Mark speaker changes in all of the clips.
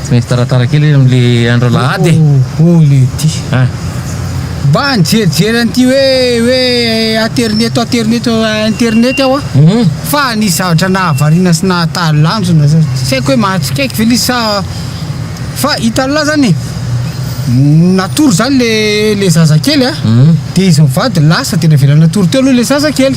Speaker 1: Tsy maintsy taratara kely izy amin'ilay andro alahady e! Daholo ity!
Speaker 2: Mba nijerijery an'ity hoe hoe aterineto aterineto internety aho an! Fa nisy zavatra nahavariana sy nahatalanjona zany, tsy haiko hoe mahatsikaiky ve le izy sa fa hitan'lah zany e! natory zany le le zazakely an! dia izy mivady lasa dia navelany natory teo aloha le zazakely.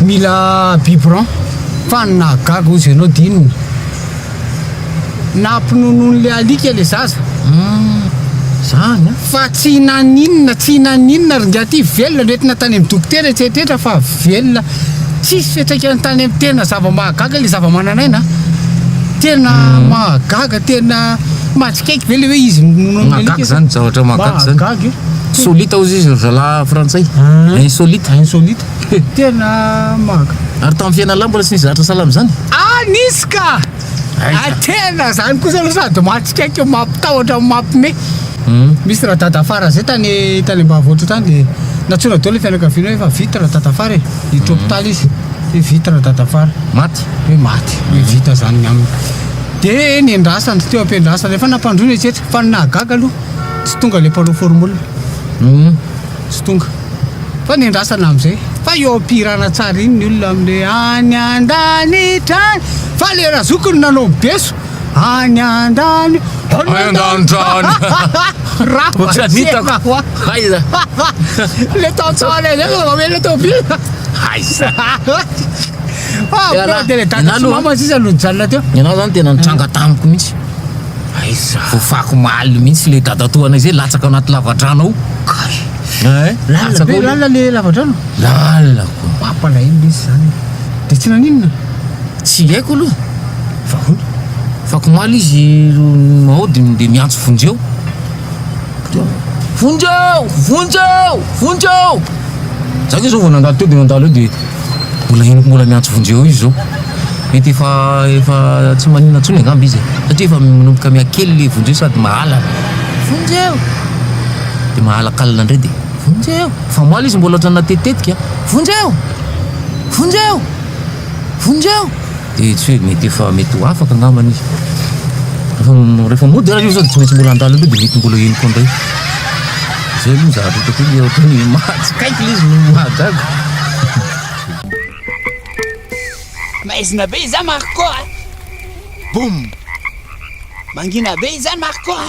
Speaker 2: Mila biberon fa ny nahagaga ozy enao de inona? Nampinonoin'le alika le zaza
Speaker 1: zany a! Fa tsy
Speaker 2: naninona tsy naninona ry ngiahy ty velona noentina tany amin'ny dokotera etseetretra fa velona tsisy fiantraikany tany amin'ny tena zava-mahagaga le zava-manan'aina a! Tena mahagaga tena mahatsikaiky ve le hoe izy nononin'le alika? Mahagaga zany
Speaker 1: zavatra mahagaga zany! Mahagaga e! Solita ozy izy ry zalahy frantsay, insolite. Insolite. Tena
Speaker 2: maka. Ary tamin'ny fiainan'lah
Speaker 1: mbola tsy nisy zahatra sahala amin'izany? Ah nisy ka!
Speaker 2: Ah tena zany kosa aloha sady mahatsikaiky mampitahotra mampime. Misy radadafara zay tany tany ambavontra tany dia nantsoina daholo ny fianakaviana hoe fa vita radadafara e, hiditra hopitaly izy hoe vita radadafara. Maty? Hoe maty,
Speaker 1: hoe
Speaker 2: vita zany ny aminy. Dia nendrasana teo am-piandrasana, efa nampandroina izy tsetra fa ny nahagaga aloha tsy tonga ilay mpanao formol. tsy tonga fa nendrasana amzay fa eo ampihirana tsara iny ny olona amle any andanitra any fa le razoko no nanao mibeso any andany any andanitra le tantsara zay fa mamela tobia aiza fa de le dada sy mama sisa no nijanona teo ianao zany tena nitranga
Speaker 1: tamiko mihitsy Aiza? Voafako omaly mihitsy ilay dadatoanay izay latsaka ao anaty lavadrano ao. Kay! Hein? Lalina be, lalina ilay lavadrano?
Speaker 2: Lalina koa.
Speaker 1: Mampalahelo ilay izy
Speaker 2: izany. Dia tsy naninona? Tsy haiko
Speaker 1: aloha. Fa ahoana? Fako omaly izy ro ao dia dia miantso Vonjeo. Vonjeo! Vonjeo! Vonjeo! Izaho koa izao vao nandalo teo dia nandalo eo dia. Mbola henoko mbola miantso vonjy eo io zao. Mety efa efa tsy maninona tsony angamba izy e. Satria efa manomboka mihakely le vonjy eo sady mahalana. Vonjy eo! De mahalakalina ndray de vonjy eo! Fa omaly izy mbola otrany natetitetika. Vonjy eo! Vonjy eo! Vonjy eo! Dia tsy hoe mety efa mety ho afaka angambany izy. Rehefa rehefa mody ary io zao dia tsy maintsy mbola handalo indray dia mety mbola eny koa indray. Zay aloha ny zavatra hitako hoe ohatra hoe ny mahatsikaiky ilay izy no mahagaga.
Speaker 3: Maizina be izany Marco a! Boum! Mangina be izany Marco a!